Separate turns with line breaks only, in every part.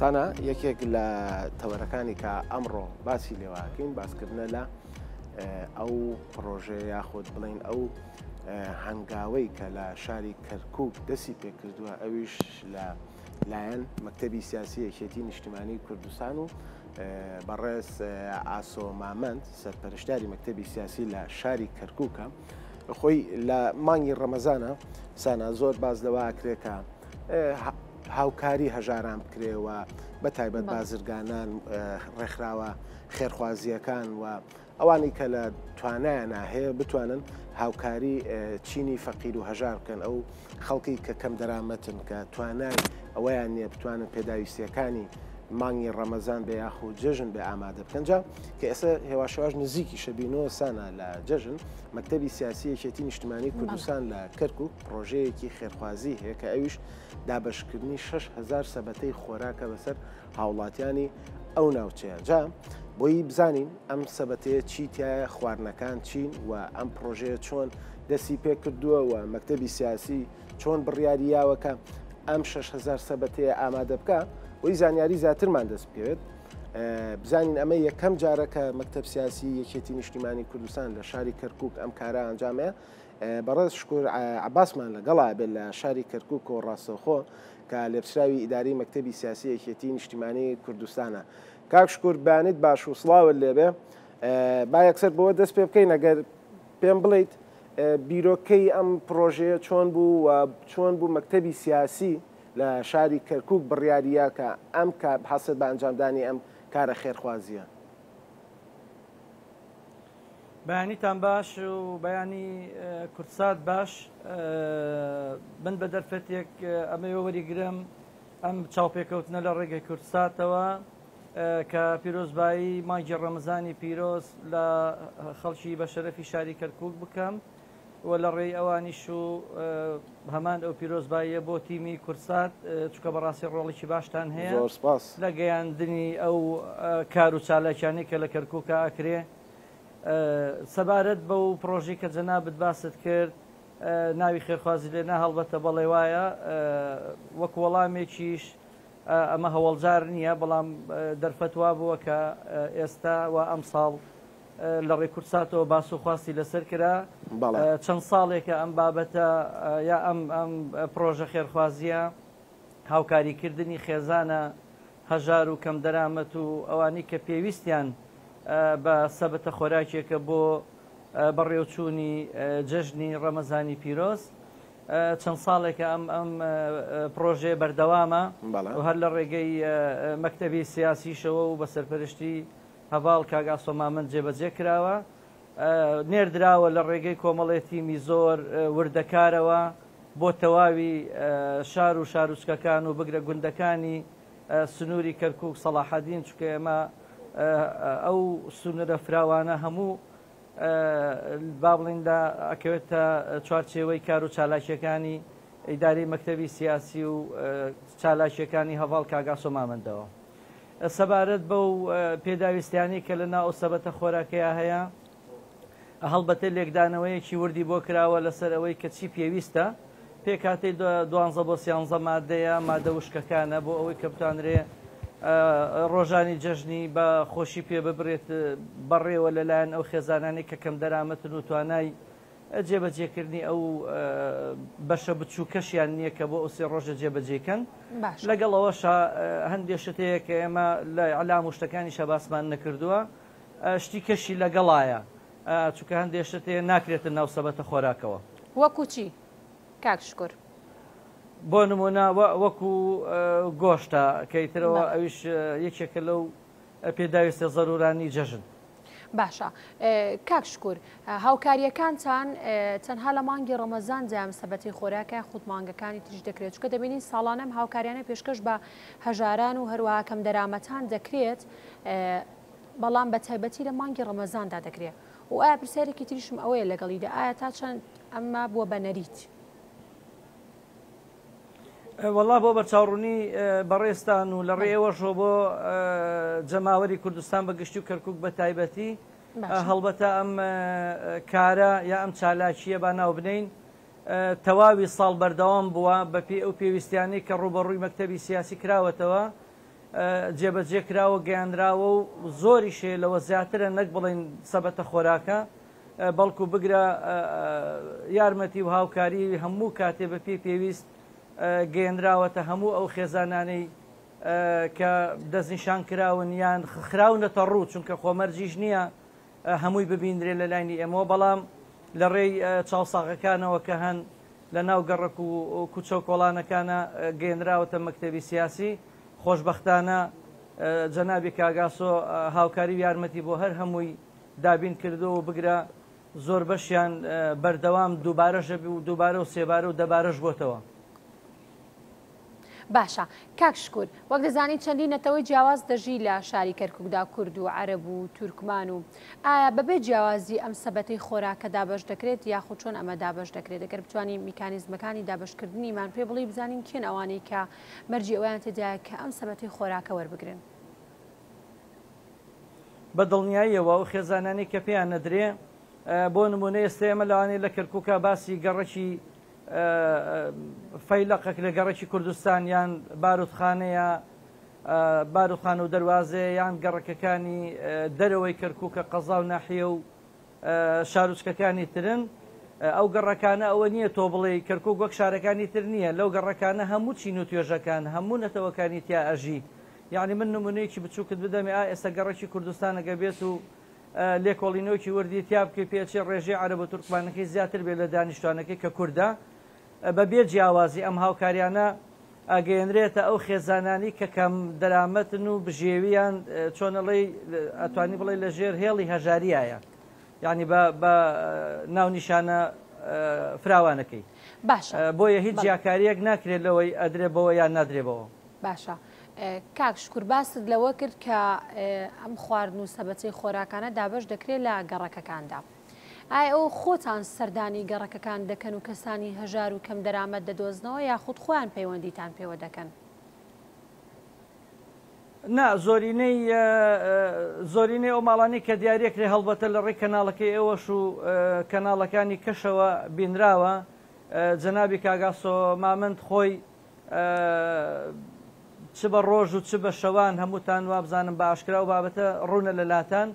سانا یەکێک لە تەوەرەکانی کە ئەمڕۆ باسی لێواکەین باسکردنە لە ئەو پرۆژێ یاخود بڵین ئەو هەنگاوەی کە لە شاری کەرکک دەسی پێکردووە ئەویش لە لایەن مەکتتەبی سیاسی یەکێتی نیشتمانی کوردستان و بەڕێز ئاسۆ مامەند سەرپەرشتاری مەکتتەبی سیاسی لە شاری کەرککە خۆی لە مانگی ڕەمەزانە سانا زۆر باز لەوە ئاکرێکە هاوکاری هەژاران بکرێ و بە تایبەت بازرگانان ڕێکخراوە خێرخوازیەکان و ئەوانی کە لە توانایان هەیە بتوانن هاوکاری چینی فەقیر و هەژار بکەن ئەو خەڵکی کە کەم دەرامەتن کە توانای ئەویان نییە بتوانن پێداویستیەکانی مانگی ڕەمەزان بە یاخو جەژن بە ئامادە بکەنجا کە ئێستا هێواشواش نزیکی شەبینەوە سانا لە جەژن مەکتتەبی سیاسی یەکێتی نیشتمانی کوردستان لە کەرکک پڕۆژەیەکی خێرخوازی هەیە کە ئەویش دابەشکردنی 6 هزار سەبەتەی خۆراکە بەسەر هاوڵاتیانی ئەو ناوچەیە جا بۆی بزانین ئەم سەبەتەیە چی تایە خواردنەکان چین و ئەم پرۆژەیە چۆن دەسی پێ کردووە و مەکتتەبی سیاسی چۆن بڕیاریاوەکە ئەم 6هزار سەبەتەیە ئامادە بکە وی زانیاری زیاترمان دەست بکەوێت بزانین ئەمە یەکەم جارەکە مەکتب سیاسی یەکێتی نیشتیمانی کوردستان لە شاری کەرکک ئەم کارە ئەنجامەیە بەڕێز شکور عەباسمان لەگەڵا بێت لە شاری کەرکوک و ڕاستەوخۆ کە لێپچراوی ئیداری مەکتەبی سیاسی یەکێتی نیشتیمانی کوردستانە کاک شکور بانیت باش و سڵاوت لێبێ با یەکسەر بەوە دەست پێ بکەین ئەگەر پێم بڵیت بیرۆکەی ئەم پرۆژەیە چۆن بوو و چۆن بوو مەکتەبی سیاسی لە شاری کەرکک بڕیاریە کە ئەم کار حەسر بە ئەنجامدانی ئەم کارە خێرخوازیە
بەیانیتان باش و بەیانی کوردسات باش من بە دەرفەتێک ئەمەوێ وەریگرم ئەم چاوپێکەوتنە لە ڕێگەی کوردساتەوە کە پیرۆزبایی مانگی ڕەمەزانی پیرۆز لە خەڵکی بەشەرەفی شاری کەرکوک بکەم وە لە ڕێی ئەوانیش و هەمان ئەو پیرۆزباییە بۆ تیمی کوردسات چونکە بەڕاستی ڕۆڵیکی باشتان هەیە زۆر سپاس. لە گەیاندنی ئەو کار و چالاکیانەی کە لە کەرکوکا ئەکرێ سەبارەت بەو پڕۆژەی کە جەنابت باست کرد ناوی خێرخوازی لێ نا هەڵبەتە بەڵێ وایە وەک وەڵامێکیش ئەمە هەوەڵجار نیە بەڵام دەرفەت وا بووە کە ئێستا و ئەمساڵ لە ڕێی کوردساتەوە باس و خواستی لەسەر کرا. چەند ساڵێکە ئەم بابەتە یا ئەم پڕۆژە خێرخوازییە هاوکاریکردنی خێزانە هەژار و کەمدەرامەت و ئەوانەی کە پێویستیان بە سەبەتە خۆراکییەکە بۆ بەڕێوچوونی جەژنی ڕەمەزانی پیرۆز چەند ساڵێکە ئەم ئەم پڕۆژەیە بەردەوامە و هەر لە ڕێگەی مەکتەبی سیاسیشەوە و بە سەرپەرشتی هەڤاڵ کاک ئاسۆ مامەند جێبەجێ کراوە. نێردراوە لە ڕێگەی کۆمەڵێ تیمی زۆر وردەکارەوە بۆ تەواوی شار و شاروچکەکان و بگرە گوندەکانی سنووری کەرکووک سەڵاحەدین چونکە ئێمە ئەو سنوورە فراوانە هەموو با بڵێین لە ئەکەوێتە چوارچێوەی کار و چالاکییەکانی ئیدارەی مەکتەبی سیاسی و چالاکییەکانی هەڤاڵ کاک ئاسۆ مامەندەوە. سەبارەت بەو پێداویستیانەی کە لە ناو ئەو سەبەتە خۆراکەیا هەیە، هەڵبەتە لێکدانەوەیەکی وردی بۆ کراوە لەسەر ئەوەی کە چی پێویستە، پێکهاتەی دوانزە بۆ سیانزە مادەیە، مادە وشکەکانە، بۆ ئەوەی کە بتوانرێ ڕۆژانی جەژنی بە خۆشی پێ ببرێت بەڕێوە لە لایەن ئەو خێزانانەی کە کەم دەرامەتن و توانای جێبەجێکردنی ئەو بەشە بچووکەشیان نییە کە بۆ ئەو سێ ڕۆژە جێبەجێکەن. لەگەڵ ئەوەشا هەندێ شت هەیە کە ئێمە لە ئیعلام و شتەکانیشا باسمان نەکردووە، شتی کەشی لەگەڵایە، چونکە هەندێ شت هەیە ناکرێتە ناو سەبەتە خۆراکەوە. وەکوو چی
کاک شکور؟ بۆ
نموونە وەکوو گۆشتە کە ئیتر ئەویش یەکێکە لەو پێداویستە زەرورانی جەژن. باشە
کاک شکور هاوکاریەکانتان تەنها لە مانگی ڕەمەزان جام سەبەتی خۆراکە خود مانگەکانی تریش دەکرێت چکە دەبینین ساڵانەم هاوکاریانە پێشکەش بە هەژاران و هەروواکەم دەرامەتان دەکرێت بەڵام بە تایبەتی لە مانگی ڕەمەزاندا دەکرێت و ئایا پرسیارێکی تریشم ئەوەیە لەگەڵیدا ئایا تا چەند ئەمما بووە بە نەریت.
وەڵا بۆ بەرچاوڕونی بەڕێزتان و لەڕێی ئێوەشەوە بۆ جەماوەری کوردستان بە گشتی و کەرکک بە تایبەتی هەڵبەتە ئەم کارە یا ئەم چالاکیە با ناوبنین تەواوی ساڵ بەردەوام بووە بەپی ئەو پێویستیانەی کە ڕوبەڕووی مەکتتەبی سیاسی کراوەتەوە جێبەجێ کراوە گەیانراوە و زۆری شێ لەوە زیاترە نەک بڵین سەبەتە خۆراکە بەڵکو بگرە یارمەتی و هاوکاری هەموو کاتێ بە پێی پێویست گەیەنراوەتە هەموو ئەو خێزانانەی کە دەستنیشان کراون یان خراونەتە ڕوو چونکە خۆمەرجیش نییە هەمووی ببیندرێ لە لاینی ئێمەوە بەڵام لە ڕێی چاوساغەکانەوە کە هەن لە ناو گەڕک و کوچە و کۆڵانەکانە گەێنراوەتە مەکتتەبی سیاسی خۆشببختانە جەنابی کاگاسۆ هاوکاری و یارمەتی بۆ هەر هەمووی دابین کردووە و بگرە زۆر بەشیان بەردەوام دووبارەشە و دووبارە و سێبارە و دەبارەش بۆتەوە.
باشە کاک شکور وەک دەزانی چەندین نەتەوەی جیاواز دەژی لە شاری کەرکوکدا کورد و عەرەب و تورکمان و ئایا بەبێ جیاوازی ئەم سەبەتەی خۆراکە دابەش دەکرێت یاخود چۆن ئەمە دابەش دەکرێت دەگەر بتوانین میکانیزمەکانی دابشکردنیمان پێ بڵی بزانین کێن ئەوانەی کە مەرجی ئەویان تێدایە کە ئەم سەبەتەی خۆراکە وەربگرن.
بە دڵنیاییەوە ئەو خێزانانەی کە پێیان نەدرێ بۆ نموونە ئێستە ئێمە لەوانەیە لە کەرکووکا باسی گەڕەکی فەیلەقەک لە گەڕەکی کوردستان یان بارودخانەیە بارودخانە و دەروازەیە یان گەڕەکەکانی دەرەوەی کەرکووکە قەزا و ناحیە و شاروچکەکانی ترن ئەو گەڕەکانە ئەوە نییە تۆ بڵێ کەرکک وەک شارەکانی تر نییە لەو گەڕەکانە هەموو چین و توێژەکان هەموو نەتەوەکانی تیا ئەژی یەعنی من نمونەیەکی بچوکت بدەمێ ئا ئێستا گەڕەکی کوردستان گەر بێت و لێکۆڵینەوەکی وردی تیا بکەی پێ چێ ڕێژەی عەرەب و تورکمانەکەی زیاتر بێت لە دانیشتوانەکەی کە کوردە بە بێ جیاوازی ئەم هاوکاریانە ئەگەیەنرێتە ئەو خێزانانی کە کەم دەرامەتن و بژێویان چۆن ئەڵێی ئەتوانی بڵێ لە ژێر هێڵی هەژاریایە یعنی بە بە ناونیشانە فراوانەکەی باشە
بۆیە هیچ بەڵێ.
جیاکارییەک ناکرێت لەوەی ئەدرێ بەوە یان نادرێ بەوە باشە
کاک شکور باست لەوە کرد کە ئەم خواردن و سەبەتەی خۆراکانە دابەش دەکرێت لە گەڕەکەکاندا ئایا ئەو خۆتان سەردانی گەڕەکەکان دەکەن و کەسانی هەژار و کەم دەرامەت دەدۆزنەوە یاخود خۆیان پەیوەندیتان پێوە دەکەن
نا زۆرینەی زۆرینەی ئەو ماڵانی کە دیارە کرێ هەڵبەتە لە ڕێی کەناڵەکەی ئێوەش و کەناڵەکانی کەشەوە بینراوە جەنابی کاگاسۆ مامند خۆی چ بە ڕۆژ و چ بە شەوان هەمووتان وابزانم بە ئاشکرا ئەو بابەتە ڕوونە لە لاتان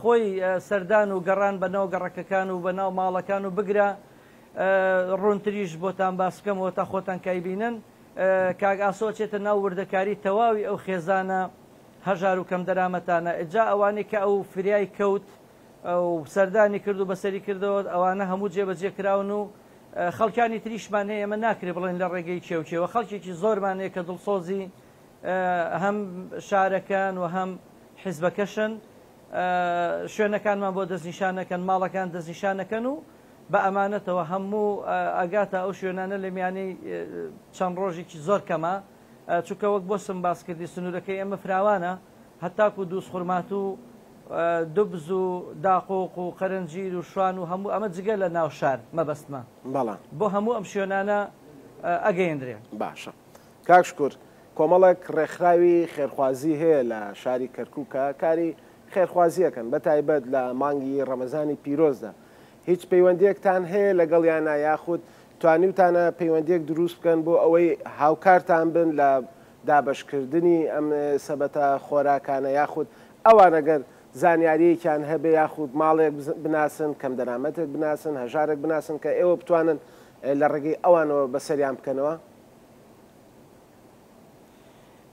خۆی سەردان و گەڕان بە ناو گەڕەکەکان و بە ناو ماڵەکان و بگرە ڕوونتریش بۆتان باس بکەمەوە تا خۆتان کای بینن کاک ئاسۆ ئەچێتە ناو وردەکاری تەواوی ئەو خێزانە هەژار و کەم دەرامەتانە ئجا ئەوانەی کە ئەو فریای کەوت و سەردانی کرد و بەسەری کردەوە ئەوانە هەموو جێبەجێ کراون و خەڵکانی تریشمان هەیە، ئێمە ناکرێت بڵێن لە ڕێگەی کێ و کێوە، خەڵکێکی زۆرمان هەیە کە دڵسۆزی هەم شارەکەن و هەم حیزبەکەشن، شوێنەکانمان بۆ دەستنیشان ئەکەن، ماڵەکان دەستنیشان ئەکەن و بە ئەمانەتەوە هەموو ئەگاتە ئەو شوێنانە لە میانەی چەند ڕۆژێکی زۆر کەمە، چونکە وەک بۆسم باس کردی سنوورەکەی ئێمە فراوانە، هەتاکو دووزخورماتوو و دوبز و داقۆق و قەرەنجیر و شوان و هەموو ئەمە جگە لە ناو شار مەبەستمە بەڵام. بۆ هەموو ئەم شوێنانە ئەگەیەنرێ. باشە
کاک شکور کۆمەڵێک ڕێکخراوی خێرخوازی هەیە لە شاری کەرکوک کە کاری خێرخوازی ئەکەن بەتایبەت لە مانگی ڕەمەزانی پیرۆزدا هیچ پەیوەندیەکتان هەیە لەگەڵیانا یاخود توانیوتانە پەیوەندیەک دروست بکەن بۆ ئەوەی هاوکارتان بن لە دابەشکردنی ئەم سەبەتە خۆراکانە یاخود ئەوان گەر زانیاریەکیان هەبێ یاخود ماڵێک بناسن کەم دەرامەتێک بناسن هەژارێک بناسن کە ئێوە بتوانن لە ڕێگەی ئەوانەوە بەسەریان بکەنەوە؟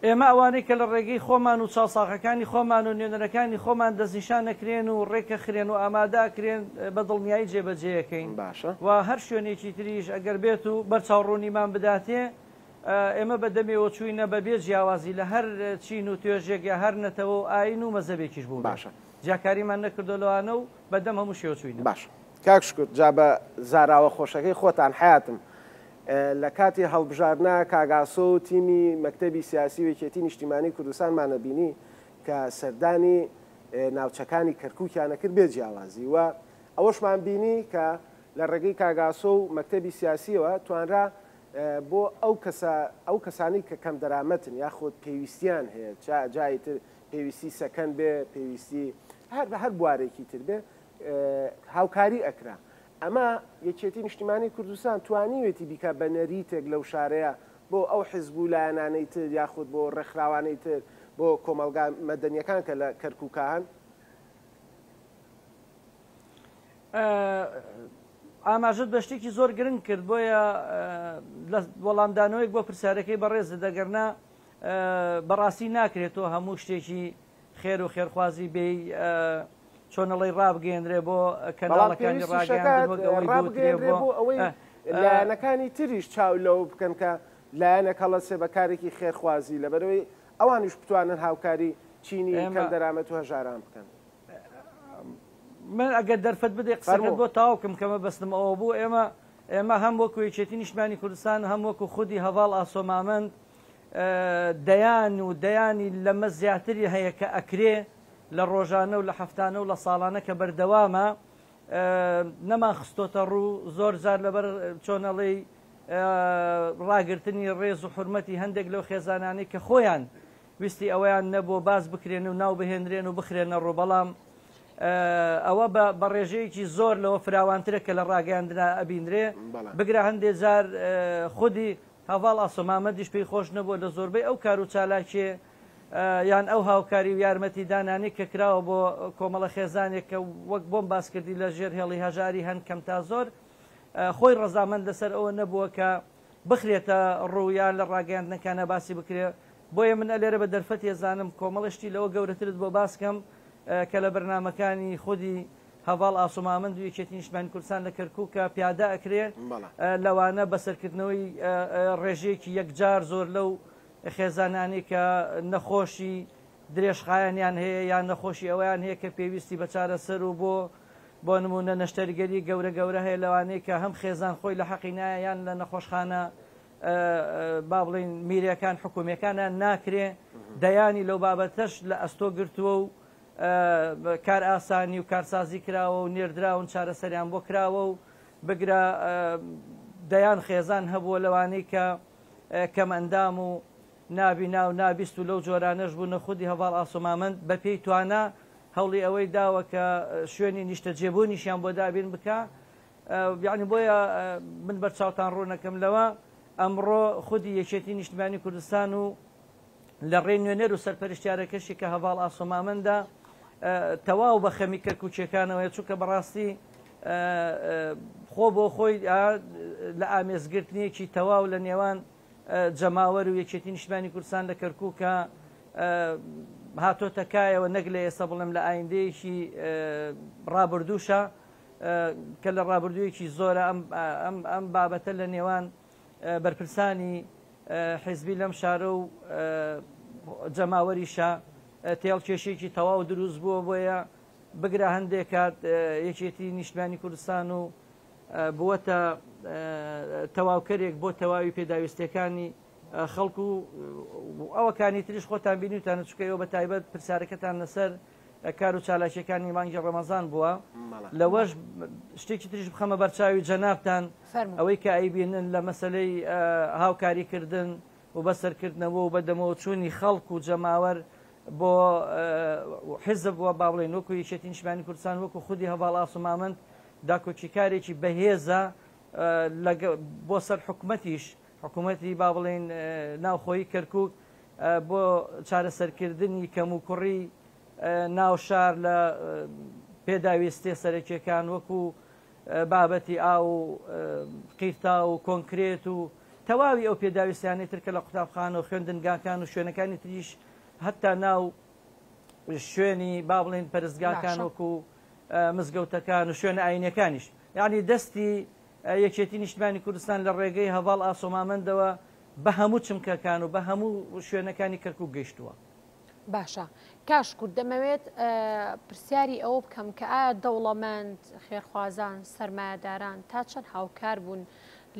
ئێمە ئەوانەی کە لە ڕێگەی خۆمان و چاوساغەکانی خۆمان و نوێنەرەکانی خۆمان دەستنیشان ئەکرێن و ڕێکەخرێن و ئامادە ئەکرێن بە دڵنیایی جێبەجێی ئەکەین باشە. و هەر
شوێنێکی
تریش ئەگەر بێت و بەرچاو ڕوونیمان بداتێ ئێمە بە دەمێوە چووینە بە بێ جیاوازی لە هەر چین و توێژێک یا هەر نەتەوە و ئایین و مەزەبێکیش بووبێ باشە. جیاکاریمان
نەکردووە
لەوانە و بە دەم هەموو شێوە چووینە. باشە کاک شکور
جا بە زاراوە خۆشەکەی خۆتان حەیاتم لە کاتی هەڵبژاردنە کاک ئاسۆ و تیمی مەکتەبی سیاسی و یەکێتی نیشتیمانی کوردستانمان ئەبینی کە سەردانی ناوچەکانی کەرکوکیان ئەکرد بێ جیاوازی و ئەوەشمان بینی کە لە ڕێگەی کاک ئاسۆ و مەکتەبی سیاسیەوە توانرا بۆ ئەو کەسە ئەو کەسانی کە کەم دەرامەتن یاخود پێویستیان هەیە چا جای تر پێویستی سەکەن بێ پێویستی هەر هەر بوارێکی تر بێ هاوکاری ئەکرا ئەمە یەکێتی نیشتیمانی کوردستان توانیوێتی بیکا بە نەریتێک لەو شارەیە بۆ ئەو حیزب و لایەنانەی تر یاخود بۆ ڕێکخراوانەی تر بۆ کۆمەڵگا مەدەنیەکان کە لە کەرکوکا هەن.
ئاماژەت بە شتێکی زۆر گرنگ کرد بۆیە لە وەڵامدانەوەیەک بۆ پرسیارەکەی بەڕێزت دەگەرنا بەڕاستی ناکرێت تۆ هەموو شتێکی خێر و خێرخوازی بێی چۆنەڵی ڕابگەیەنرێ بۆ کەناڵەکانی ڕاگەیاندن وەک ئەوەی ڕابگەیەنرێ بۆ ئەوەی
لایەنەکانی تریش چاو لەوە بکەن کە لایەنێک هەڵەسێ بە کارێکی خێرخوازی لەبەرەوەی ئەوانیش بتوانن هاوکاری چینی کەمدەرامەت و هەژاران بکەن. من
ئەگەر دەرفەت بدەی قسەکەت بۆ تەواو بکەم کە مەبەستم ئەوە بوو ئێمە ئێمە هەم وەکو یەکێتی نیشتمانی کوردستان هەم وەکو خودی هەڤاڵ ئاسۆ مامەند دەیان و دەیانی لەمە زیاتری هەیە کە ئەکرێ لە ڕۆژانە و لە هەفتانە و لە ساڵانە کە بەردەوامە نەمان خستۆتە ڕوو زۆر جار لەبەر چۆن ئەڵێی ڕاگرتنی ڕێز و حورمەتی هەندێک لەو خێزانانەی کە خۆیان ویستی ئەوەیان نەبووە باس بکرێن و ناو بهێنرێن و بخرێنە ڕوو بەڵام ئەوە بە ڕێژەیەکی زۆر لەوە فراوانترە کە لە ڕاگەیاندرا ئەبینرێ بگرە هەندێ جار خودی هەڤاڵ ئاسۆ مامەدیش پێی خۆش نەبووە لە زۆربەی ئەو کار و چالاکییە یان ئەو هاوکاری و یارمەتی دانانەی کە کراوە بۆ کۆمەڵە خێزانێک کە وەک بۆم باس کردی لە ژێر هێڵی هەژاری هەن کەم تا زۆر خۆی ڕەزامەند لە سەر ئەوە نەبووە کە بخرێتە ڕوو یان لە ڕاگەیاندنەکانا باسی بکرێ بۆیە من ئەلێرە بە دەرفەتی ئەزانم کۆمەڵە شتی لەوە گەورەترت بۆ باس کەم کە لە بەرنامەکانی خودی هەڤاڵ ئاسۆمامەند و یەکێتی نیشتمانی کوردستان لە کەرکوکە پیادە ئەکرێ لەوانە بە سەرکردنەوەی ڕێژەیەکی یەکجار زۆر لەو خێزانانەی کە نەخۆشی درێژخایەنیان هەیە یان نەخۆشی ئەوەیان هەیە کە پێویستی بە چارەسەر و بۆ بۆ نمونە نەشتەرگەری گەورە گەورە هەیە لەوانەی کە هەم خێزان خۆی لە حەقی نایە یان لە نەخۆشخانە با بڵین میرەکان حکومیەکانە ناکرێ دەیانی لەو بابەتەش لە ئەستۆ گرتووە و کارئاسانی و کارسازی کراوە و نێردراون چارەسەریان بۆ کراوە و بگرە دەیان خێزان هەبووە لەوانەی کە کەمئەندام و نابینا و نابیست و لەو جۆرانەش بوونە خودی هەڤاڵ ئاسۆمامەند بە پێی توانا هەوڵی ئەوەی داوە کە شوێنی نیشتەجێبوونیشیان بۆ دابین بکا یعنی بۆیە من بەرچاوتان ڕوونەکەم لەوە ئەمڕۆ خودی یەکێتی نیشتمانی کوردستان و لە ڕێی نوێنەر و سەرپەرشتیارەکەشی کە هەڤاڵ ئاسۆ مامەندە تەواو بە خەمی کەرکووکییەکانەوەیە، چونکە بەڕاستی خۆ بۆ خۆی لە ئامێزگرتنێکی تەواو لە نێوان جەماوەر و یەکێتی نیشتمانی کوردستان لە کەرکووکە هاتۆتە کایەوە، نەک لە ئێستا بڵێم لە ئایندەیەکی ڕابردووشە کە لە ڕابردوویەکی زۆرە ئەم بابەتە لە نێوان بەرپرسانی حیزبی لەم شارە و جەماوەریشە تێڵ کێشێکی تەواو دروست بووە بۆیە بگرە هەندێک کات یەکێتی نیشتمانی کوردستان و بووەتە تەواوکەرێک بۆ تەواوی پێداویستەکانی خەڵکو و ئەوەکانی تریش خۆتان بینیوتانە چکەوە بە تایبەت پرسیارەکەتان لەسەر کار و چالاکیەکانی مانگی ڕەمەزان بووە لەوەش شتێکی تریش بخەمە بەرچاوی جەنابتان ئەوەی کە ئەیبینن لە مەسلەی هاوکاری کردن و بەسەرکردنەوە و بەدەمەوە چوونی خەڵک و جەماوەر بۆ حزب و باڵێن وەکو یەکێتی نیشمانی کوردستان وەکو خودی هەواڵ ئاسومامند داکۆکیکارێکی بەهێزە بۆ سەر حکومەتیش حکومەتی با بڵێین ناوخۆیی کەرکوک بۆ چارەسەرکردنی کەموکوڕی ناو شار لە پێداویستیە سەرەکیەکان وەکو بابەتی ئاو و قیرتاو و کۆنکرێت و تەواوی ئەو پێداویستیانەی تر کە لە قوتابخانە و خوێندنگاکان و شوێنەکانی تریش هەتا ناو شوێنی با بڵێن پەرستگاکان وەکو مزگەوتەکان و شوێنە ئاینەکانیش یعنی دەستی یەکێتی نیشتمانی کوردستان لە ڕێگەی هەڤاڵ ئاسۆ مامەندەوە بە هەموو چمکەکان و بە هەموو شوێنەکانی کەرکووک گەیشتووە. باشە
کاش کورد دەمەوێت پرسیاری ئەوە بکەم کە ئایا دەوڵەمەند، خێرخوازان، سەرمایەداران تا چەند هاوکار بوون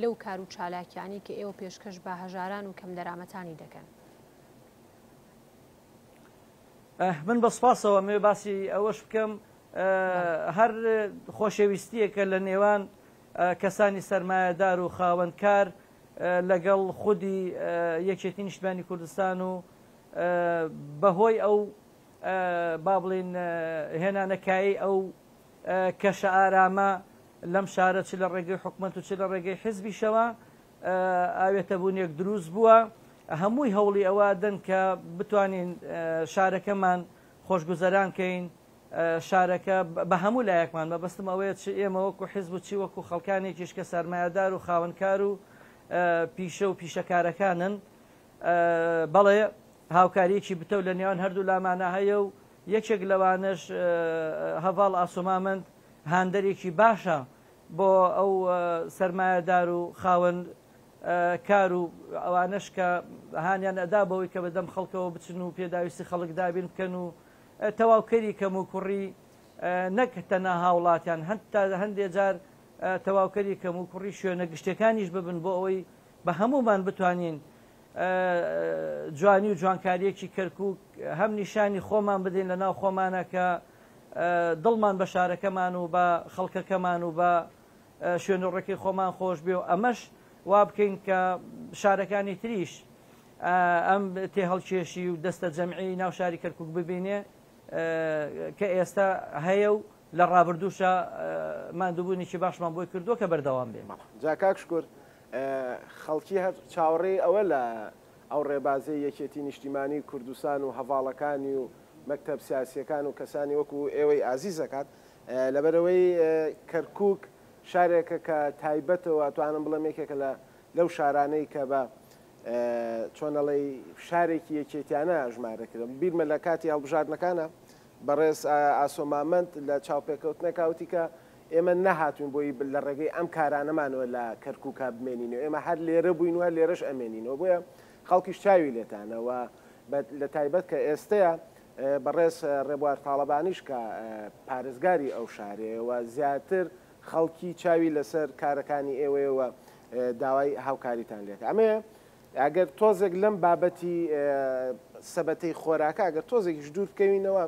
لەو کار و چالاکیانەی کە ئێوە پێشکەش بە هەژاران و کەمدەرامەتانی دەکەن؟
من بە سپاسەوە مەوێ باسی ئەوەش بکەم هەر خۆشەویستییەکە لە نێوان کەسانی سەرمایەدار و خاوەن کار لەگەڵ خودی یەکێتی نیشتمانی کوردستان و بە هۆی ئەو با بڵین هێنانە کایەی ئەو کەشە ئارامە لەم شارە چ لە ڕێگەی حکومەت و چ لە ڕێگەی حزبیشەوە ئاوێتە بوونێک دروست بووە هەمووی هەوڵی ئەوە دەن کە بتوانین شارەکەمان خۆشگوزەران کەین شارەکە بە هەموو لایەکمان، مەبەستم ئەوەیە چ ئێمە وەکو حیزب و چی وەکو خەڵکانێکیش کە سەرمایەدار و خاوەنکار و پیشە و پیشەکارەکانن، بەڵێ هاوکارییەکی بتەو لە نێوان هەردوو لامانا هەیە و یەکێک لەوانەش هەڤاڵ ئاسۆمامەند هاندەرێکی باشە بۆ ئەو سەرمایەدار و خاوەن کار و ئەوانەش کە هانیان ئەدا بەوەی کە بەدەم خەڵکەوە بچن و پێداویستی خەڵک دابین بکەن و تەواوکەری کەموکوڕی نەک تەنها هاوڵاتیان هەتا هەندێ جار تەواوکەری کەموکوڕی شوێنە گشتیەکانیش ببن بۆ ئەوەی بە هەموومان بتوانین جوانی و جوانکاریەکی کەرکوک هەم نیشانی خۆمان بدەین لە ناو خۆمانە کە دڵمان بە شارەکەمان و بە خەڵکەکەمان و بە شوێنەڕێکی خۆمان خۆش بێ و ئەمەش وابکەین کە شارەکانی تریش ئەم تێهەڵکێشی و دەستەجەمعیی ناو شاری کەرکووک ببینێ کە ئێستا هەیە و لە ڕابردووشا ماندووبوونێکی باشمان بۆی کردووە کە بەردەوام بێ. جا کاک شکور
خەڵکی هەر چاوەڕێی ئەوە لە ئەو ڕێبازەی یەکێتیی نیشتیمانیی کوردستان و هەڤاڵەکانی و مەکتەب سیاسییەکان و کەسانی وەکوو ئێوەی ئازیز دەکات لەبەرئەوەی کەرکووک شارێکە کە تایبەتە و ئەتوانم بڵێم یەکێکە لە لەو شارانەی کە بە چۆن ئەڵێی فشارێکی یەکێتیانە ژمارەکرم بیرمە لە کاتی هەڵبژاردنەکانە بەڕێز ئاسۆ مامەند لە چاوپێکەوتنێکا وتی کە ئێمە نەهاتوین بۆی لە ڕێگەی ئەم کارانەمانەوە لە کەرکووکا بمێنینەوە ئێمە هەر لێرە بووین وە لێرەش ئەمێنینەوە بۆیە خەڵکیش چاوی لێتانەوە لە تایبەت کە ئێستەیە بەڕێز ڕێبوار تاڵەبانیش کە پارێزگاری ئەو شارەیەوە زیاتر خەڵکی چاوی لەسەر کارەکانی ئێوەیەوە داوای هاوکاریتان لێت ئەمەیە ئەگەر تۆزێک لەم بابەتی سەبەتەی خۆراکە ئەگەر تۆزێکیش دوور بکەوینەوە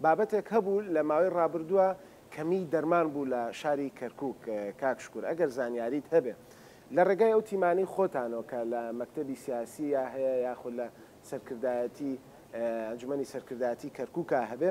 بابەتێک هەبوو لە ماوەی ڕابردووە کەمی دەرمان بوو لە شاری کەرکک کاک شکور ئەگەر زانیاریت هەبێ لە ڕێگای ئەو تیمانی خۆتانەوە کە لە مەکتتەبی سیاسی یا هەیە یاخود لە سەرکردایەتی ئەنجومی سەرکردایەتی کەرککە هەبێ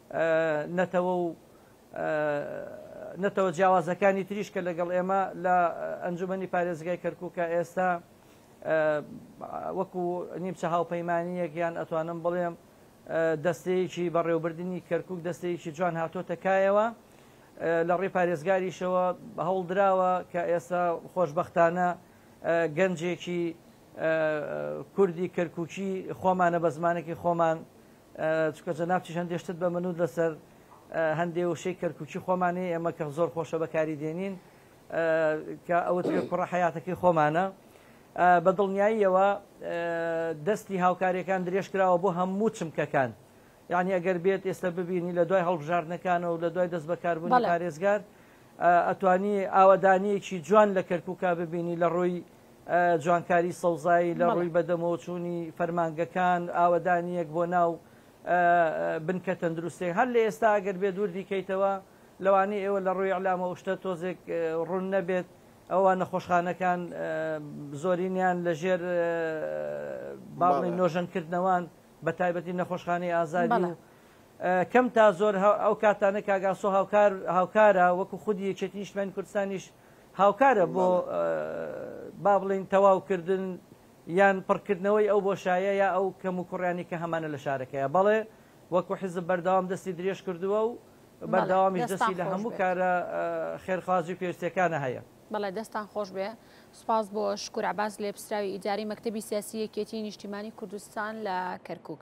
نەتەوە و نەتەوە جیاوازەکانی تریش کە لەگەڵ ئێمە لە ئەنجومەنی پارێزگای کەرکووکە ئێستا وەکو نیمچە هاوپەیمانیەک یان ئەتوانم بڵێم دەستەیەکی بەڕێوبردننی کەرکک دەستەیەکی جوان هاتۆتە کایەوە لە ڕێ پارێزگاریشەوە هەوڵدراوە کە ئێستا خۆشببختانە گەنجێکی کوردی کەرککی خۆمانە بە زمانێکی خۆمان چونکە جەنابتیش هەندێ شتت بە منوت لەسەر هەندێ وشەی کەرکوکی خۆمانی ئێمە کە زۆر خۆشە بەکاری دێنین کە ئەوت پێ کوڕە حیاتەکەی خۆمانە بە دڵنیاییەوە دەستی هاوکاریەکان درێژ کراوە بۆ هەموو چمکەکان یعنی ئەگەر بێت ئێستا ببینی لە دوای هەڵبژاردنەکانە و لە دوای دەست بەکاربوون پارێزگار ئەتوانی ئاوادانیەکی جوان لە کەرکووکا ببینی لە ڕووی جوانکاری سەوزایی لە ڕووی بەدەمەوە چوونی فەرمانگەکان، ئاوەدانییەک بۆ ناو بنکە تەندروستییەکان، هەر لە ئێستا ئەگەر بێت وردیکەیتەوە، لەوانەیە ئێوە لە ڕووی ئیعلام ئەو شتە تۆزێک ڕوون نەبێت، ئەوە نەخۆشخانەکان زۆرینەیان لە ژێر با بڵێین نۆژەنکردنەوان، بە تایبەتی نەخۆشخانەی ئازادی و کەم تا زۆر ئەو کاتانە کاک ئاسۆ هاوکار هاوکارە وەکو خودی یەکێتی نیشتمانی کوردستانیش، هاوکارە بۆ با بڵێین تەواو کردن یان پڕکردنەوەی ئەو بۆشایە یا ئەو کەم و کوڕیانی کە هەمانە لە شارەکەیە بەڵێ وەکو حزب بەردەوام دەستی درێژ کردووە و بەردەوامیش دەستی لە هەموو کارە خێرخوازی پێویستەکانە هەیە. بەڵێ دەستان خۆش
بێ سوپاس بۆ شکور عباس لێپسراوی ئیداری مەکتەبی سیاسی یەکێتی نیشتیمانی کوردستان لە کەرکوک.